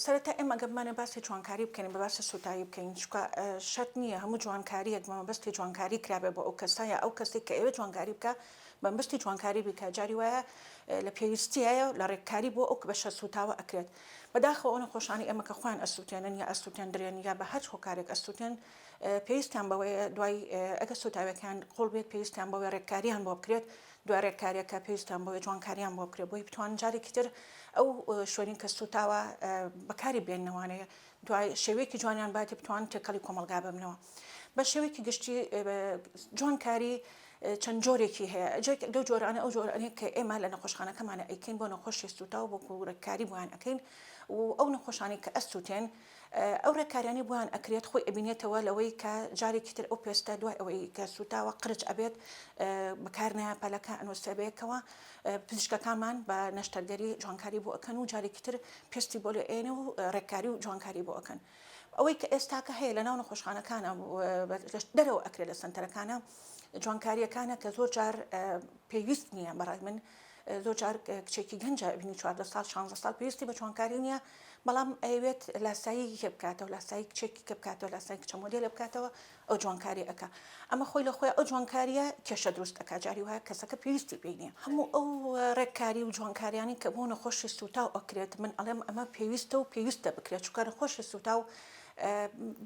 سەرەتا ئێمە گەر بمانەوێت باسی جوانکاری بکەین با باسی سووتایی بکەین چونکە شەرت نییە هەموو جوانکارییەک بە مەبەستی جوانکاری کرابێت بۆ ئەو کەسە یا ئەو کەسەی کە ئەوێت جوانکاری بکا بە مەبەستی جوانکاری بیکا جاری وایە لە پێویستیایە و لە ڕێککاری بۆ ئەو بەشە سووتاوە ئەکرێت بەداخەوە ئەو نەخۆشانەی ئێمە کە خۆیان ئەسووتێنن یا ئەسووتێندرێن یا بە هەر هۆکارێک ئەسووتێن پێویستیان بەوەیە دوای ئەگەر سووتاوێکیان قوڵ بێت پێویستیان بەوەی ڕێککارییان بۆ بکرێت دوای رێککارییەک کە پێویستیان بۆیە جوانکارییان بۆ بکرێت بۆی بتوانن جارێکی تر ئەو شوێنەی کە سووتاوە بەکاری بێننە وانەیە دوای شێوەیەکی جوانیان باتی بتوان تێکەڵی کۆمەلگا ببنەوە بە شێوەیەکی گشتی جوانکاری چەند جۆرێکی هەیە جێک لەو جۆرانە ئەو جۆرانەیە کە ئێمە لە نەخۆشخانەکەمانە ئەیکەین بۆ نەخۆشی سووتا و بۆ گورەکاری بۆیان ئەەکەین و ئەو نەخۆشانی کە ئەسووتێن ئەو ڕێککاریانەی بۆیان ئەکرێت خۆی ئەبینێتەوە لەوەی کە جارێکی تر ئەو پێستە دوای ئەوەی کە سووتاوە قرچ ئەبێت بەکارنایە پەلەکە ئەنوسێبەیەکەوە پزیشکەکانمان بە نەشتەرگەری جوانکاری بۆ ئەکەن و جارێکی تر پێستی بۆ لێ ئێنە و ڕێککاری و جوانکاری بۆ ئەکەن ئەوەی کە ئێستاکە هەیە لە ناو نەخۆشخانەکانە دەرەوە ئەکرێت لە سنتەرەکانە جوانکاریەکانە کە زۆر جار پێویست نییە بەڕای من زۆر جار کچێکی گەنج ئەبینی چواردە ساڵ شانزە ساڵ پێویستی بە چوانکاری نییە بەڵام ئەیەوێت لاسایی کێ بکاتەوە لاسایی کچێکی کە بکاتەوە لاسای کچە مۆدێلە بکاتەوە ئەو جوانکاری ئەکا ئەمە خۆی لە خۆی ئەو جوانکاریە کێشە دروست ئەکا جاری وایە کەسەکە پێویستی پێی نییە هەموو ئەو ڕێککاری و جوانکاریانی کە بۆ نەخۆشی سوتاو ئەکرێت من ئەڵێم ئەمە پێویستە و پێویستە بکرێت چونکە نەخۆشی سوتاو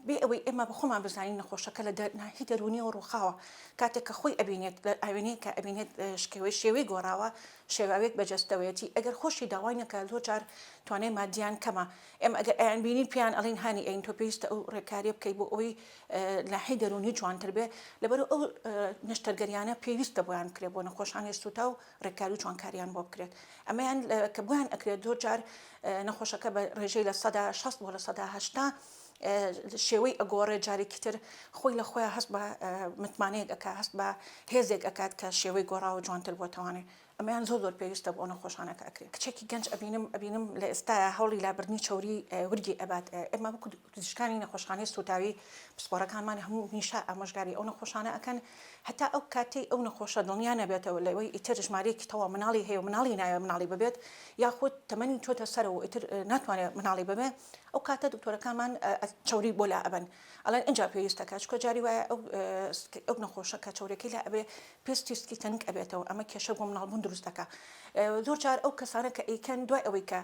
بێ ئەوەی ئێمە بەخۆمان بزانین نەخۆشەکە لە دەرناهی دەرونیەوە ڕووخاوە کاتێک کە خۆی ئەبینێت لە ئاوێنەیە کە ئەبینێت شکێوەی شێوەی گۆڕاوە شێواوێک بەجەستەوەیەتی ئەگەر خۆشی داوای نەکە لۆ جار توانای مادیان کەمە ئێمە ئەگەر ئەیان بینین پیان ئەڵین هاانی ئەین تۆ پێویستە ئەو ڕێکاریە بکەی بۆ ئەوی ناحی دەرونی جوانتر بێ لەبەر ئەو نەشتەرگەریانە پێویستە بۆیان کرێ بۆ نەخۆشانی سوتا و ڕێککاری و چۆنکاریان بۆ بکرێت ئەمەیان کە بۆیان ئەکرێت زۆر جار نەخۆشەکە بە ڕێژەی لە سەدا شەست بۆ لە سەدا هەشتا شێوەی ئەگۆڕێ جارێکی تر خۆی لە خۆیان هەست بە متمانەیەک ئەک هەست بە هێزێک ئەکات کە شێوەی گۆڕاوە جوانتر بۆتەوانێ ئەمەیان زۆر زۆر پێویستە بۆ ئەە خۆشانەکە ئەکرێت کچێکی گەنج ئەبینم ئەبینم لە ئێستاە هەوڵی لابردنی چوری ورگی ئەبات ئێمە بکو پزیشکانی نەخۆشخانەی سوتاوی پسپۆرەکانمان هەموو میشە ئامۆژگاری ئەو نەخۆشانە ئەکەن هەتا ئەو کاتەی ئەو نەخۆشە دڵنیا نەبێتەوە لەوەی ئیتر ژمارەیەکی تەواو منداڵی هەیە و منداڵی نایەوێت منداڵی ببێت یاخود تەمەنی چۆتە سەرەوە و ئیتر ناتوانێت منداڵی ببێت ئەو کاتە دکتۆرەکانمان چەوری بۆ لا ئەبەن ئەڵێن ئینجا پێویستە کە چکۆ جاری وایە ئەو ئەو نەخۆشە کە چەورەکەی لا ئەبێ پێست تیستکی تەنک ئەبێتەوە ئەمە کێشە بۆ منداڵبوون دروست دەکات زۆر جار ئەو کەسانە کە ئەیکەن دوای ئەوەی کە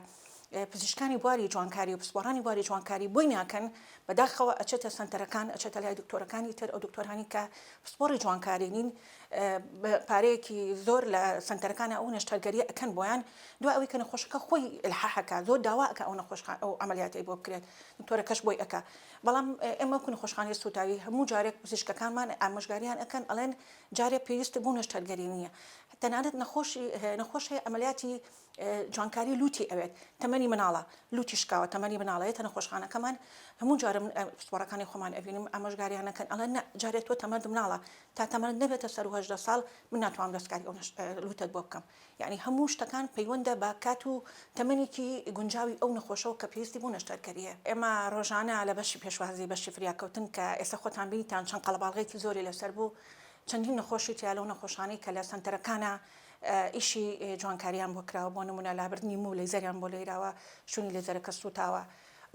پزیشکانی بواری جوانکاری و پسپۆڕانی بواری جوانکاری بۆی ناکەن بەداخەوە ئەچێتە سەنتەرەکان ئەچێتە لای دکتۆرەکانی تر ئەو دکتۆرانی کە پسپۆڕی جوانکاری نین پارەیەکی زۆر لە سەنتەرەکانە ئەو نەشتەرگەری ئەکەن بۆیان دو ئەوی کە نەخۆشەکە خۆی الححەکە زۆر داواکە ئەو نەخۆشخ ئەو عملیاتی بۆ بکرێت دکتۆرەکەش بۆی ئەک بەڵام ئێمە کو نەخۆشخانی سوتاوی هەموو جارێک پزیشکەکانمان ئامۆژگاریان ئەکەن ئەڵێن جارێ پێویست بوو نەشتەرگەری نییە تەنانەت نەخۆشی نەخۆشی عملیاتی جوانکاری لوتی ئەوێت تەمەنی مناڵە لوتی شکاوە تەمەنی مناڵە یەتە نەخۆشخانەکەمان هەموو جارە من پسپۆڕەکانی خۆمان ئەبینم ئامۆژگاریانەکەن ئەڵێن نە جارێ تۆ تەمەند مناڵە تا تەمەند نەبێتە سەر و هەژدە ساڵ من ناتوانم دەستکاری ئەو لوتەت بۆ بکەم یعنی هەموو شتەکان پەیوەندە بە کات و تەمەنێکی گونجاوی ئەو نەخۆشەوە کە پێویستی بۆ نەشتەرکەریە ئێمە ڕۆژانە لە بەشی پێشوازی بەشی فریاکەوتن کە ئێستا خۆتان بینیتان چەند قەڵەباڵغێکی زۆری لەسەر بوو چەندین نەخۆشی تیا لەو نەخۆشانەی کە لە سەنتەرەکانە ئیشی جوانکاریان بۆ کراوە بۆ نمونە لابردنی موو لەیزەریان بۆ لێیراوە شونی لێزەرەکە سوتاوە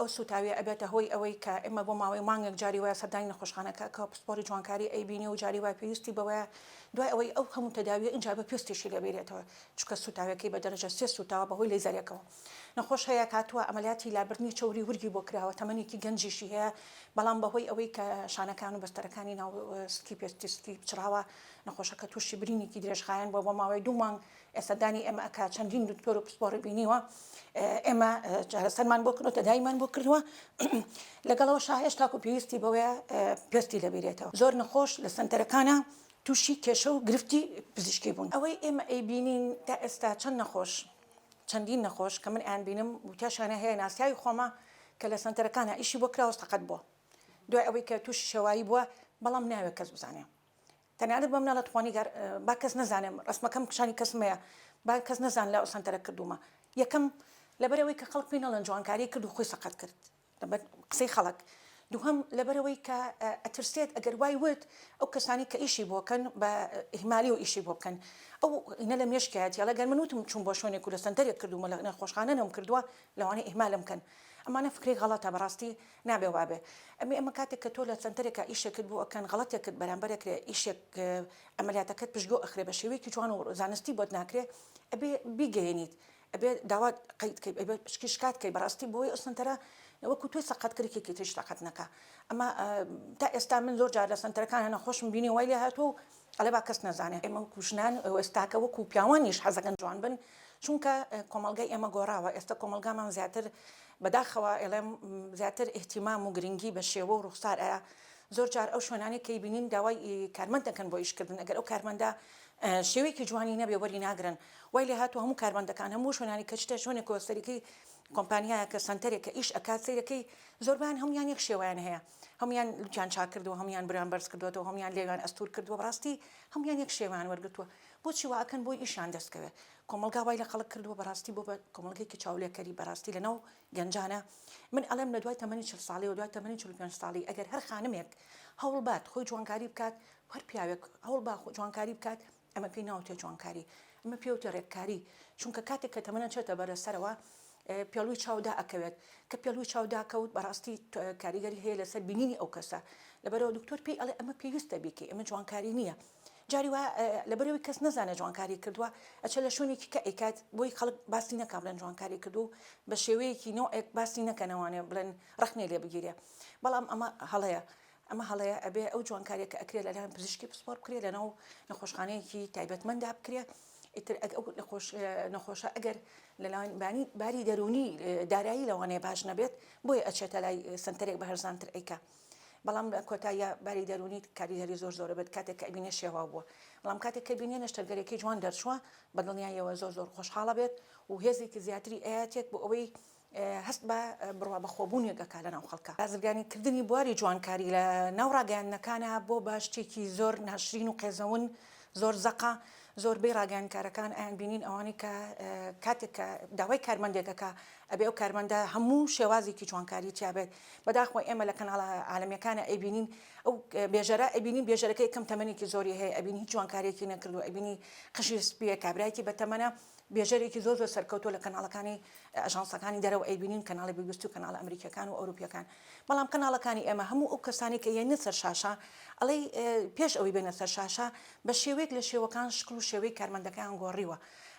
ئەو سوتاویە ئەبێتە هۆی ئەوەی کە ئێمە بۆ ماوەی مانگێک جاری وایە سەردانی نەخۆشخانەکە کە پسپۆری جوانکاری ئەیبینێ و جاری وای پێویستی بەوەیە دوای ئەوەی ئەو هەموو تەداویە ئینجا بە پێستیشی لێبیرێتەوە چونکە سوتاویەکەی بە دەرەجە سێ سوتاوە بەهۆی لەیزەرێکەوە نەخۆش هەیە کاتوە ئەمەلیاتی لابردنی چەوری ورگی بۆ کراوە تەمەنێکی گەنجیشی هەیە بەڵام بەهۆی ئەوەی کە شانەکان و بەستەرەکانی ناو سکی پێستی سکی پچڕاوە نەخۆشەکە تووشی برینێکی درێژخایەن بووە بۆ ماوەی دوو مانگ ئێستا دانی ئێمە ئەکات چەندین دکتۆر و پسپۆڕی بینیوە ئێمە چارەسەرمان بۆ کردو تەدایمان بۆ کردووە لەگەڵەوە شاهێش تاکو پێویستی بەوەیە پێستی لەبیرێتەوە زۆر نەخۆش لە سەنتەرەکانە تووشی کێشە و گرفتی پزیشکی بوون ئەوەی ئێمە ئەیبینین تا ئێستا چەند نەخۆش چەندین نەخۆش کە من ئەیان بینم وتیاشانە هەیە ناسیاوی خۆمە کە لە سەنتەرەکانە ئیشی بۆ کراوە سەقەت بووە دوای ئەوەی کە تووشی شێوایی بووە بەڵام ناوێ کەس بزانێ تەنانەت بە مناڵە توخوا نیگار با کەس نەزانێ ڕەسمەکەم کشانی کەس مەیە با کەس نەزان لە سەنتەرە کردوومە یەکەم لەبەرەوەی کە خەڵک پێی نەڵێن جوانکاری کرد و خۆی سەقەت کرد لەبەر قسەی خەڵک دووهەم لەبەرەوەی کە ئەترسێت ئەگەر وای وت ئەو کەسانی کە ئیشی بۆکەن بە ئیهمالی و ئیشی بۆ بکەن ئەو ئینە لە مێشکایەتی ئەڵێ گەر من وتم چوون بۆ شوێنێک و لە سەنتەرێک کردوومە لە نەخۆشخانە نەوم کردووە لەوانەیە ئیهمالم بکەن ئەمانە فکرەی غەڵەتە بەڕاستی نابێ وابێ ئەمێ ئەمە کاتێک کە تۆ لە سەنتەرێکا ئیشێکت بۆ ئەکەن غەڵەتێک کرد بەرامبەرە کرێ ئیشێک ئەمەلیاتەکەت پشتگۆ ئەخرێ بە شێوەیەکی جوان و زانستی بۆت ناکرێ ئەبێ بیگەیەنیت ئەبێ داوات قەیت کەی ئەبێ پشکی شکات کەی بەڕاستی بۆی ئەو سەنتەرە وەکو توی سەقەت کرێکێکی تریش سەقەت نەکا ئەمە تا ئێستا من زۆر جار لە سەنتەرەکان هەنە خۆشم بینی وای لێ هاتووە و ئەڵێ با کەس نەزانێ ئێمە وەکو ژنان و ئێستاکە وەکو پیاوانیش حەزەکەن جوان بن چونکە کۆمەڵگای ئێمە گۆڕاوە ئێستا کۆمەڵگامان زیاتر بەداخەوە ئێڵێم زیاتر ئیهتیمام و گرنگی بە شێوە و ڕوخسار ئەیا زۆر جار ئەو شوێنانەی کە ئیبینین داوای کارمەند دەکەن بۆ ئیشکردن ئەگەر ئەو کارمەندە شێوەیەکی جوانی نەبێ وەری ناگرن وای لێ هاتوو هەموو کارمەندەکان هەموو شوێنانی کە چتە شوێنێک کۆسەریکەی کۆمپانیایە کە سەنتەرێک کە ئیش ئەکات سیرەکەی زۆربان هەمویان یەک شێوەیان هەیە هەموویان لوتیان چاک کردووە هەموویان بریان بەرز کردۆتەوە هەموویان لێویان ئەستور کردووە بەڕاستی هەموویان یەک شێوەیان وەرگرتووە بۆچی وا ئەکەن بۆی ئیشیان دەستکەوێ کۆمەڵگا وای لە خەڵک کردووە بەڕاستی بۆ بە کۆمەڵگەیەکی چاولێکەری بەڕاستی لەناو گەنجانە من ئەڵێم لە دوای تەمەنی چل ساڵیەوە دوای تەمەنی چل و پێنج ساڵی ئەگەر هەر خانمێک هەوڵ بات خۆی جوانکاری بکات هەر پیاوێک هەوڵ با جوانکاری بکات ئەمە پێی ناوتێ جوانکاری، ئەمە پێوتێ رێککاری، چونکە کاتێک کە تەمەنە چێتە بەرە سەرەوە پێڵوی چاو دائەکەوێت، کە پێڵوی چاو داکەوت بەڕاستی کاریگەری هەیە لەسەر بینینی ئەو کەسە، لەبەرئەوە دکتۆر پێی ئەڵێ ئەمە پێویستە بیکەی ئەمە جوانکاری نییە، جاری وا لەبەرئەوەی کەس نەزانێت جوانکاری کردووە ئەچێت لە شوێنێکی کە ئەیکات بۆی خەڵک باسی نەکا بڵێن جوانکاری کردوو بە شێوەیەکی نۆعێک باسی نەکەن ئەوانێ بڵێن رەخنەی لێ بگیرێ بەڵام ئەمە هەڵەیە ئەمە هەڵەیە ئەبێ ئەو جوانکاریە کە ئەکرێ لەلایەن پزیشکی پسپۆر بکرێ لەناو نەخۆشخانەیەکی تایبەتمەندا بکرێ ئیتر ئەو نەخۆش نەخۆشە ئەگەر لەلاوان بانی باری دەرونی دارایی لەوانەیە باش نەبێت بۆیە ئەچێتە لای سنتەرێک بە هەرزانتر ئەیکە بەڵام لە کۆتاییە باری دەرونی کاریگەری زۆر زۆرە بێت کاتێک کە ئەبینێ شێوا بووە بەڵام کاتێک کە بینێ نەشتەرگەرێکی جوان دەرچووە بە دڵنیایەوە زۆر زۆر خۆشحاڵە بێت و هێزێکی زیاتری ئاەتێک بۆ ئەوەی هەست بە بڕوابەخۆبوونێک ئەکا لەناو خەڵکا. بازرگانی کردنی بواری جوانکاری لە ناو ڕاگەیاندنەکانا بۆ بە شتێکی زۆر ناشرین و قێزەون زۆر زەقە، زۆربەی ڕاگەیاندکارەکان ئەیان بینین ئەوانەی کە کاتێک کە داوای کارمەندێک ئەکا ئەبێ ئەو کارمەندە هەموو شێوازێکی جوانکاری تیا بێت، بەداخوە ئێمە لە کەناڵە عالەمیەکانا ئەیبینین ئەو بێژەرە ئەیبینین بێژەرەکە یەکەم تەمەنێکی زۆری هەیە ئەبینی هیچ جوانکاریەکی نەکردوە ئەیبینی قژی سپیە کابرایەکی بەتەمەنە بێژەرێکی زۆر زۆر سەرکەوتوە لە کەناڵەکانی ئاژانسەکانی دەرەوە ئەیبینین کەناڵی بی بی سی و کەناڵە ئەمریکیەکان و ئەوروپیەکان بەڵام کەناڵەکانی ئێمە هەموو ئەو کەسانەی کە یەنە سەر شاشە ئەڵێی پێش ئەوی بێنە سەر شاشە بە شێوەیەک لە شێوەکان شکل و شێوەی کارمەندەکەیان گۆڕیوە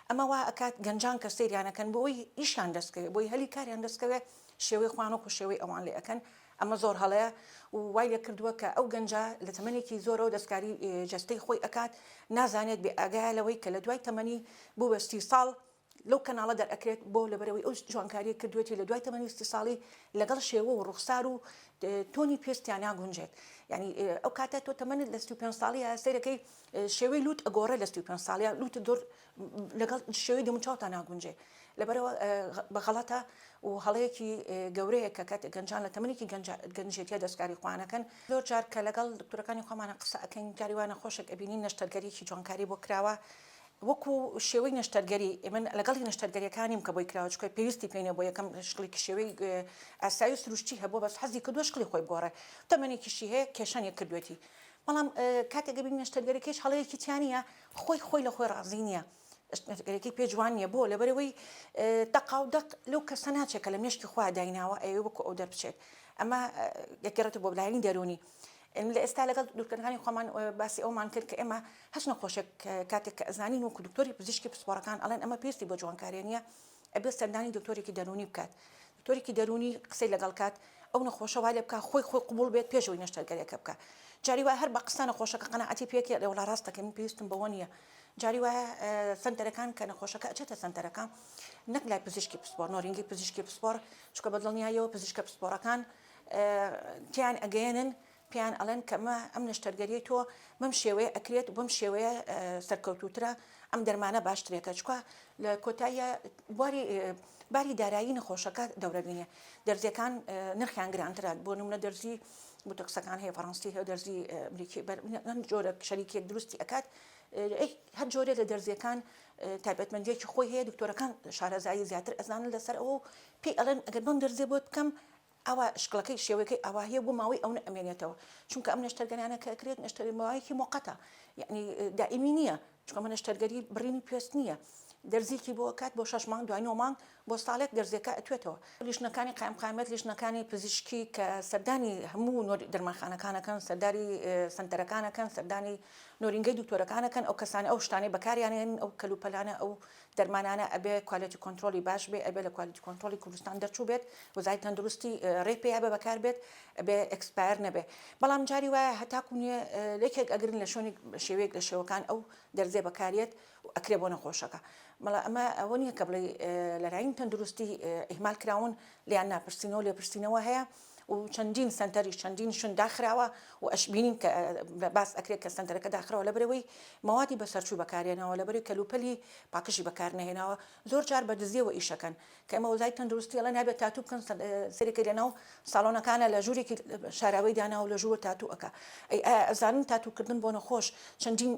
ئەمە وا ئەکات گەنجان کە سەیریانەکەن بۆی ئیشان دەستکەوێت بۆی هەلی کاریان دەستکەوێت شێوەی خوانۆک و شێوەی ئەوان لێ ئەەکەن ئەمە زۆر هەڵەیە و وای لە کردووە کە ئەو گەنجە لە تەمەێکی زۆرەوە دەستکاری جستەی خۆی ئەکات نازانێت بێ ئاگایە لەوەی کە لە دوای تەمەنی بووە سی ساڵ لەو کەناڵە دەرئەکرێت بۆ لەبەرئەوەی ئەو جوانکاریەی کردوێتی لە دوای تەمەنی سی ساڵی لەگەڵ شێوە و ڕوخسار و تۆنی پێست تیاناگونجێت یانی ئەو کاتە تۆ تەمەنت لە سی و پێنج ساڵیە سەیرەکەی شێوەی لوت ئەگۆڕێ لە سی و پێنج ساڵیە لوت دور لەگەڵ شێوەی دەموچاوتا ناگونجێ لەبەرەوە بە غەڵەتە و هەڵەیەکی گەورەیە کە کاتێک گەنجان لە تەمەنێکی گەنجێتیە دەستکاری خوانەکەن زۆر جار کە لەگەڵ دکتورەکانی خۆمانە قسە ئەکەین جاری وانە خۆشێک ئەبینین نەشتەرگەریی جوانکاری بۆ کراوە وەکو شێوەی نەشتەرگەری ئێمە لەگەڵی نەشتەرگەریەکانیم کە بۆی کراوە چکە پێویستی پێینە بۆ یەکەم شکڵی کشێوەی ئاسایی و سروشتی هەبوو بەس حەزی کردووە شکڵی خۆی بگۆڕێ تەمەنێکیشی هەیە کێشانی کردوێتی بەڵام کاتێک دەبینی نەشتەرگەریکەیش هەڵەیەکی تیا نییە خۆی خۆی لە خۆی ڕازی نییە نەشتەرگەریکەی پێ جوان نییە بۆ لەبەرەوەی دەقاو دەق لەو کەسە ناچێت کە لە مێشکی خوا دایناوە ئەوێ وەکو ئەو دەربچێت ئەمە گەگەڕێتە بۆ بلایانی دەرونی ئێمە لە ئێستا لەگەڵ دوکتورەکانی خۆمان باسی ئەوەمان کرد کە ئێمە هەچ نەخۆشێک کاتێک کە ئەزانین وەکو دکتۆری پزیشکی پسپۆڕەکان ئەڵێن ئەمە پێستی بۆ جوانکارێ نییە ئەبێت سەردانی دکتۆرێکی دەروونی بکات دکتۆرێکی دەروونی قسەی لەگەڵ کات ئەو نەخۆشە وا لێ بکە خۆی خۆی قوبوڵ بێت پێشەوەی نەشتەرگەرێکە بکە جاری وایە هەر بە قسە نەخۆشەکە قەناعەتی پێکێ لێ وڵا ڕاستەکە من پێویستم بەوە نییە جاری وایە سنتەرەکان کە نەخۆشەکە ئەچێتە سنتەرەکان نەک لای پزیشکی پسپۆر نۆرینگی پزیشکی پسپۆر چکە بە دڵنیایەوە پزیشکە پسپۆرەکان تێیان ئەگەیەنن پێیان ئەڵێن کە مە ئەم نەشتەرگەریەی تۆ بەم شێوەیە ئەکرێت بەم شێوەیە سەرکەوتوترە ئەم دەرمانە باشترێکە چکە لە کۆتاییە بواری باری دارایی نەخۆشەکە دەورەبینێ دەرزیەکان نرخیان گرانترات بۆ نمونە دەرزی بوتەکسەکان هەیە فەڕەنسی هەیە دەرزی ئەمریکی بەرم جۆرە شەریکێک دروستی ئەکات هەر جۆرێ لە دەرزیەکان تایبەتمەندیەکی خۆی هەیە دکتۆرەکان شارەزایی زیاتر ئەزانن لەسەر ئەو پێی ئەڵێن ئەگەر بەم دەرزێ بۆت بکەم ئاوا شکڵەکەی شێوەکەی ئاواهەیە بۆ ماوەی ئەونە ئەمێنێتەوە چونکە ئەم نەشتەرگەرانە کە ئەکرێت نەشتەری ماوەیەکی مۆقەتە یعنی دائیمی نییە چکەمە نەشتەرگەری بڕینی پێست نییە دەرزیکی بۆ کات بۆ شش مانگ دوای نۆ مانگ بۆ ساڵێک دەرزێکە ئەتوێتەوە لیشنەکانی قایم قامێت لیشنەکانی پزیشکی کە سەردانی هەموو دەرمانخانەکانەکەن سەرداری سنتەرەکانەکەن سەردانی نۆرینگەی دکتۆرەکانەکەن ئەو کەسانی ئەو شتانەی بەکاریانێن ئەو کەلوپەلانە ئەو دەرمانانە ئەبێ کوالێتی کۆنترۆڵی باش بێ ئەبێ لە کوالێتی کۆنترۆڵی کوردستان دەرچوو بێت وەزاری تەندروستی ڕێی پێیا بە بەکار بێت ئەبێ ئەکسپایر نەبێ بەڵام جاری وایە هەتاکو نیە لەکێک ئەگرن لە شوێنی شێوەیەک لە شێوەکان ئەو دەرزێ بەکارێت و ئەکرێ بۆ نەخۆشەکە مەڵا ئەمە ئەوە نییە کە بڵێ لەراین تەندروستی ئیهمال کراون لیان ناپرسینەوە لێپرسینەوە هەیە و چەندین سەنتەریش چەندین شوێن داخراوە و ئەشبینین کە باس ئەکرێت کە سەنتەرەکە داخراوە لەبەرەوەی مەوادی بەسەرچوو بەکارێنەوە لەبەری کەلوپەلی پاکژی بەکار نەهێناوە زۆر جار بە دزیەوە ئیشەکەن کە ئێمە وەزای تەندروستی ئەڵێن نابێت تاتوو بکەن سەرێکی لەناو ساڵۆنەکانە لە ژوورێکی شاراوەی دانا و لە ژوور تاتوو ئەکا ئەزانن تاتووکردن بۆ نەخۆش چەندین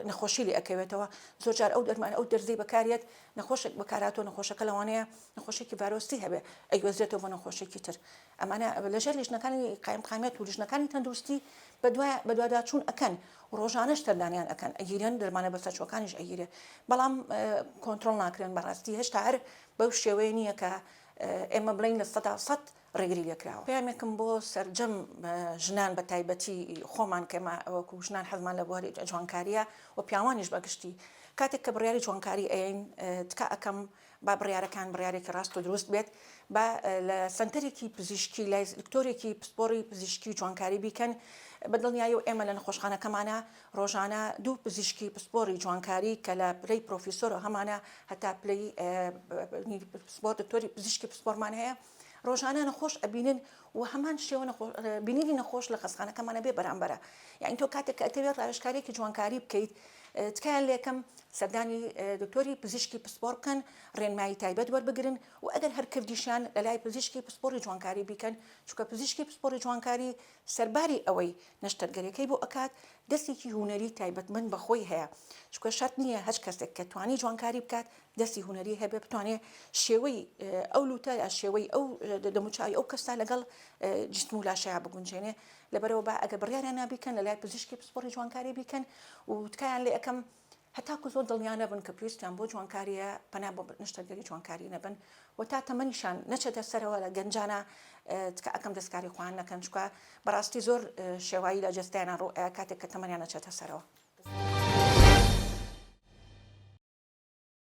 نەخۆشی لێ ئەکەوێتەوە زۆر جار ئەو دەرمان ئەو دەرزی بەکارێت نەخۆشێک بەکاراتۆ نەخۆشەکە لەوانەیە نەخۆشیەکی ڤایرۆسی هەبێت ئەیگوێزرێتەوە بۆ نەخۆشێکی تر ئەمانە لەژێر لیژنەکانی قایمقامیەت و لیژنەکانی تەندروستی بەدوای بەدواداچوون ئەەکەن ڕۆژانش تەردانیان ئەەکەن ئەگیرێن دەرمانە بەسەرچوەکانیش ئەگیرێ بەڵام کۆنتترۆل ناکرێن بەڕاستی هێشتا هەر بەو شێوەیە نییە کە ئێمە بڵین لە سەدا سەد ڕێگری لێکراوە پامێکم بۆ سرجەم ژنان بە تایبەتی خۆمان کەمە ئەوەکو ژنان حەزمان لە بواری جوانکاریە و پیاوانیش بەگشتی کاتێک کە بڕیاری جوانکاری ئەین تکا ئەەکەم با بڕیارەکان بڕیارێکی ڕاست و دروست بێت، با لە سەنتەرێکی پزیشکی لای دکتۆرێکی پسپۆڕی پزیشکی جوانکاری بیکەن، بە دڵنیایی و ئێمە لە نەخۆشخانەکەمانا ڕۆژانە دوو پزیشکی پسپۆڕی جوانکاری کە لە پلەی پرۆفیسۆرەوە هەمانە هەتا پلەی پسپۆڕ دکتۆری پزیشکی پسپۆڕمان هەیە ڕۆژانە نەخۆش ئەبینن وە هەمان شێوە نەخۆش بینینی نەخۆش لە خەستخانەکەمانە بێ بەرامبەرە یانی تۆ کاتێک کە ئەتەوێت ڕاوێژکاریەکی جوانکاری بکەیت تکایە لەکەم سەردانی دکتۆری پزیشکی پسپۆر بکەن ڕێنمایی تایبەت وەربگرن و ئەگەر هەر کردیشان لەلای پزیشکی پسپۆری جوانکاری بیکەن چونکە پزیشکی پسپۆری جوانکاری سەرباری ئەوەی نەشتەرگەرەکەی بۆ ئەکات دەستێکی هونەری تایبەتمەند بەخۆی هەیە چونکە شەرت نییە هەچ کەسێک کە توانی جوانکاری بکات دەستی هونەری هەبێ بتوانێ شێوەی ئەو لوتە یا شێوەی ئەو دەموچای ئەو کەستا لەگەڵ جسم و لاشەیە بگونجێنێ لەبەرەوە بە ئەگە بڕیاریان نابیکەن لە لای پزیشکی پسپۆری جوانکاری بیکەن و تکایان لە یەکەم هەتاکو زۆر دڵنیانە بن کە پێویستیان بۆ جوانکاریە پەنا بۆ نیشتەرگەری جوانکاری نەبن و تا تەمەنیشان نەچێتە سەرەوە لە گەنجانە تکە ئەەکەم دەستکاری خوان نەکەن چکە بەڕاستی زۆر شێوایی لە جستیانە ڕۆ کاتێک کە تەمەنیان نەچێتە سەرەوە.